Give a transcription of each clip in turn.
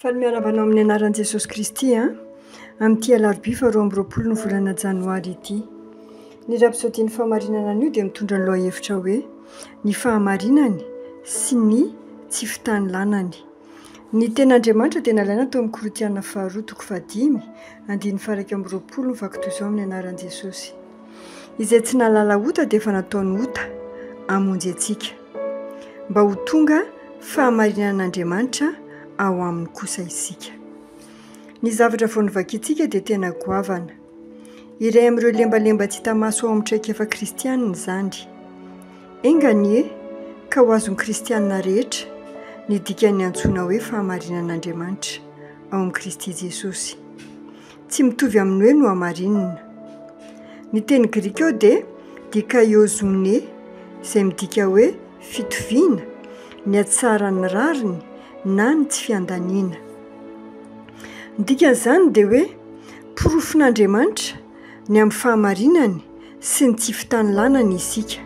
Faly miarahaba anao amin'ny anaran'i Jesosy Kristy an! Amin'ity alarobia faharoa amby roapolo ny volana janoary ity. Ny rapsodian'ny fahamarinana anio dia mitondra ny lohahevitra hoe ny fahamarinany sy ny tsy fitanilànany. Ny tenin'Andriamanitra dia nalaina tao amin'ny Korintiana faharoa toko fahadimy, andininy faha iraika amby roapolo mivaky toy izao amin'ny anaran'i Jesosy. Izay tsy nahalala ota dia efa nataony ota hamonjy antsika, mba ho tonga fahamarinan'Andriamanitra ao aminy kosa isika. Ny zavatra vao novakintsika dia tena goavana. Iray amin'ireo lembalemba tsy hita maso ao amin'ny traikefa kristianina izany. Enga anie ka ho azon'ny kristianina rehetra ny dikan'ny antsoina hoe fahamarinan'Andriamanitra ao amin'i Kristy Jesosy. Tsy mitovy amin'ny hoe nohamarinina. Ny teny grika eo dia dikaio zo'ne, izay midika hoe fitoviana, ny hatsaran'ny rariny na ny tsy fiandaniana. Ny dikan'izany dia hoe porofon'Andriamanitra ny amin'ny fahamarinany, sy ny tsy fitanilànana isika.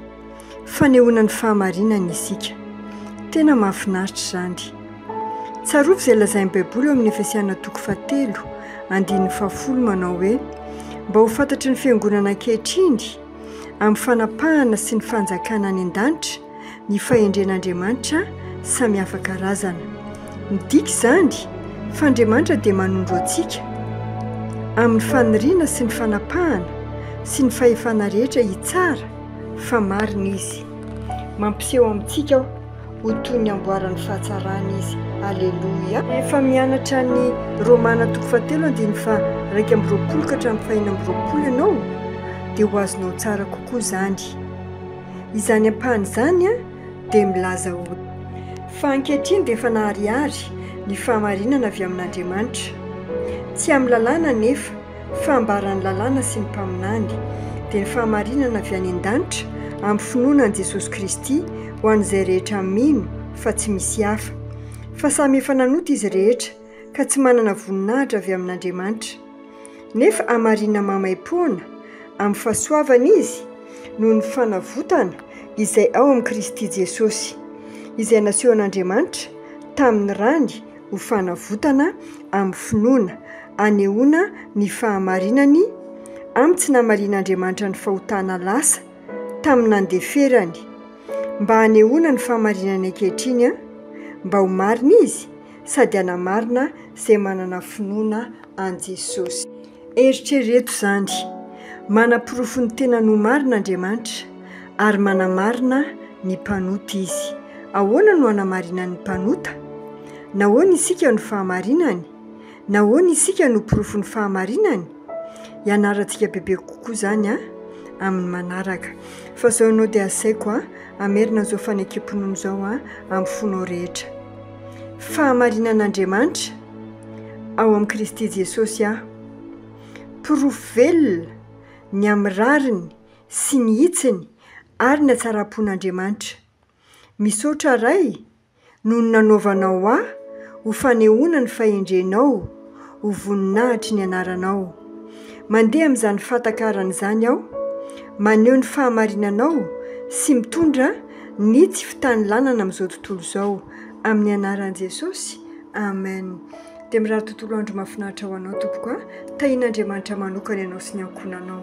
Fanehoana ny fahamarinana isika. Tena mahafinaritra izany. Tsarovy izay lazain'ny Baiboly ao amin'ny Efesiana toko fahatelo, andininy fahafolo manao hoe, Mba ho fantatry ny fiangonana ankehitriny, amin'ny fanapahana sy ny fanjakana any an-danitra, Ny fahendren'Andriamanitra samy hafa karazana. Midika izany fa Andriamanitra dia manondro antsika amin'ny faniriana sy ny fanapahana sy ny fahefana rehetra hitsara fa marina Izy. Mampiseho amintsika aho ho toy ny amboaran'ny fahatsarany Izy. Aleloia! Efa mianatra ny Romana toko fahatelo andininy faharaika amby roapolo ka hatramin'ny fahenina amby roapolo ianao dia ho azonao tsara kokoa izany. Izany ampahany izany dia milaza ho. Fa ankehitriny dia efa naharihary ny fahamarinana avy amin'Andriamanitra. Tsy amin'ny lalàna anefa, fa ambaran'ny lalàna sy ny mpaminany, dia ny fahamarinana avy any an-danitra amin'ny finoana an'i Jesosy Kristy ho an'izay rehetra mino fa tsy misy hafa. Fa samy efa nanota izy rehetra, ka tsy manana voninahitra avy amin'Andriamanitra. nefa hamarina maimaim-poana amin'ny fahasoavana izy noho ny fanavotana izay ao amin'i Kristy Jesosy, izay nasehon'Andriamanitra tamin'ny rany ho fanavotana amin'ny finoana, hanehoana ny fahamarinany amin'ny tsy namarian'Andriamanitra ny fahotana lasa tamin'ny nandeferany, mba hanehoana ny fahamarinany ankehitriny, mba ho marina izy, sady hanamarina izay manana finoana an'i Jesosy. Eritrereto izany, Manaporofo ny tenany ho marina Andriamanitra, ary manamarina ny mpanota izy. Ahoana no anamarinany ny mpanota? Nahoana isika no fahamarinany? Nahoana isika no porofon'ny fahamarinany? Ianarantsika bebe kokoa izany amin'ny manaraka. Fa izao ianao dia asaiko hamerina an'izao fanekem-pinoana izao amin'ny fonao rehetra. Fahamarinan'Andriamanitra ao amin'i Kristy Jesosy aho. Porofo velona ny amin'ny rariny sy ny hitsiny ary ny hatsaram-pon'Andriamanitra. Misaotra Ray noho ny nanaovanao ahy ho fanehoana ny fahendrenao. Ho voninahitry ny anaranao. Mandeha amin'izany fahatakarana izany aho, maneho ny fahamarinanao sy mitondra ny tsy fitanilanana amin'izao tontolo izao. Amin'ny anaran'i Jesosy, Amen. Dia mirary tontolo andro mahafinaritra ho anao tompoko a! Tahian'Andriamanitra manokana ianao sy ny ankohonanao.